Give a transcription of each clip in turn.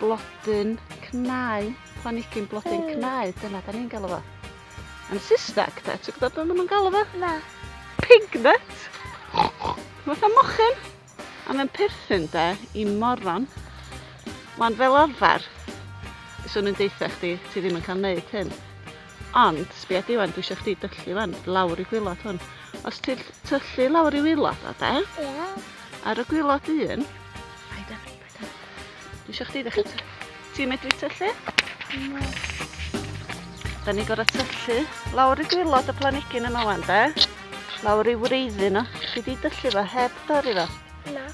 Blodyn cnau, planigyn blodyn cnau, dyna da ni'n galw fo. Yn Saesneg, da, ti'n gwybod beth maen nhw'n galw fo? Na. Pignut! Mae'n o mochyn, a mae'n perthyn da i moron. Mae'n fel arfer, swn i'n deitha chdi, ti ddim yn cael neud hyn. Ond, sbia di wan, dwi eisiau chdi dyllu wan, lawr i gwylod hwn. Os ti'n tyllu lawr i wylod o, da? Ie. Ar y gwylod un, Dwi eisiau chdi ddechrau ty. Ti'n medru tyllu? Na. Da ni gorau tyllu. Lawr i gwylod y planigyn yma wan, de? Lawr i wreiddi nhw. Ti di dyllu fo heb dorri fo? Na.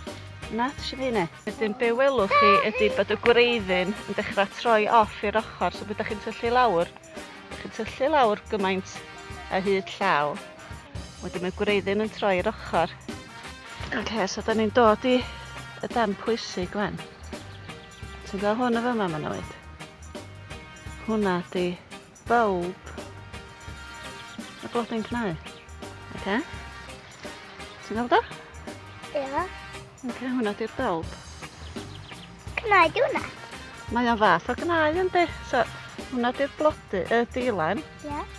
Na, ti eisiau fi ne? Wedyn be welwch chi ydy bod y gwreiddyn yn dechrau troi off i'r ochr, so beth da chi'n tyllu lawr? Da chi'n tyllu lawr gymaint a hyd llaw. Wedyn mae gwreiddyn yn troi i'r ochr. Ok, so da ni'n dod i y dan pwysig gwen. Ti'n gweld hwn y fyma, mae'n oed? Hwna di bulb y blodyn cnau. Ok? Ti'n gweld o? Ie. Yeah. Ok, hwna di'r bulb. Cnau di hwnna? Mae o'n fath o gnaen yndi? So, hwnna di'r blodi, y dilen. Ie. Yeah.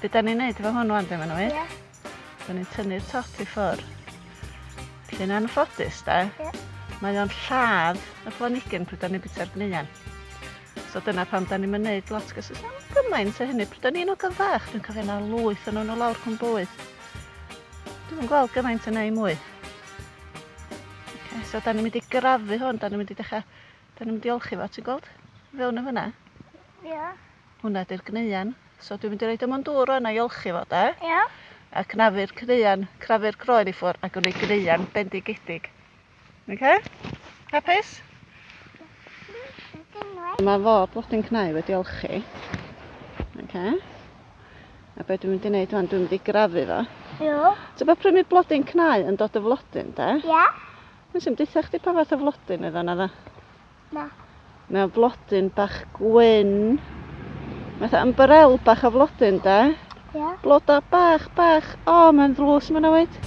Be da ni'n neud efo hwn wan de, mae'n wir? Ie. Da ni'n tynnu'r top i ffwr. Felly yn anffodus de, Ie. mae o'n lladd y planigyn pryd da ni'n bita'r gneuen. So dyna pam da ni'n neud lot gos oes am gymaint o hynny. Pryd da ni'n ogan fach, dwi'n cofio na lwyth yn nhw lawr cwm bwyd. Dwi'n gweld gymaint yn ei mwy. Okay, so da ni'n mynd i grafu hwn, da ni'n mynd i dechrau Dyn ni'n diolchu fo, ti'n gweld? Fewn yn fyna. Ia. Hwna di'r gneuen. So dwi'n mynd i roed o mewn dŵr rwan a iolchi fo, de? Ia. A cnafu'r cneuen, cnafu'r groen i ffwr a gwneud gneuen bendigedig. Okay? Hapus? Mae fo blodyn cnau wedi olchi. Okay. A be dwi'n mynd i wneud rwan, dwi'n mynd i grafu fo. Ia. Ti'n bod prynu blodyn cnau yn dod y flodyn, de? Ia. Nes i'm dweud chdi pa fath o flodyn oedd o, na dda? Na. Mae o'n flodyn bach gwyn. Mae'n yn barel bach o flodyn, da? Ie. Yeah. Blodau bach, bach. O, oh, mae'n ddlws mae'n awyd.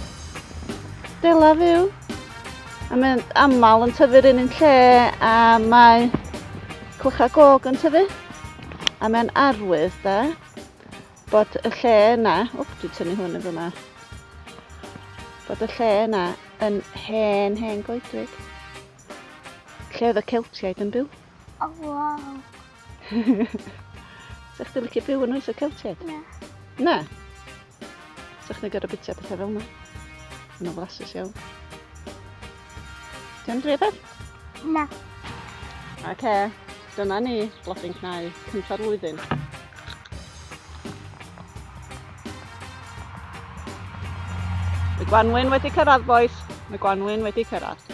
Dela fyw. A mae'n aml yn tyfu'r un yn lle a mae clychau gog yn tyfu. A mae'n arwydd da. Bod y lle yna, wp, dwi'n tynnu hwn yn fyma. Bod y lle yna yn hen, hen goedwig. Lle oedd y Celtiaid yn byw. O, oh, wow. Sa chdi licio byw yn oes y Celtiaid? Na. Na? Sa chdi'n gorau bita pethau fel yna? Yn o flasus iawn. Ti'n drefedd? Na. Ac e, dyna ni, blodyn cnau, cyntaf flwyddyn. Y gwanwyn wedi cyrraedd, boys. Y gwanwyn wedi cyrraedd.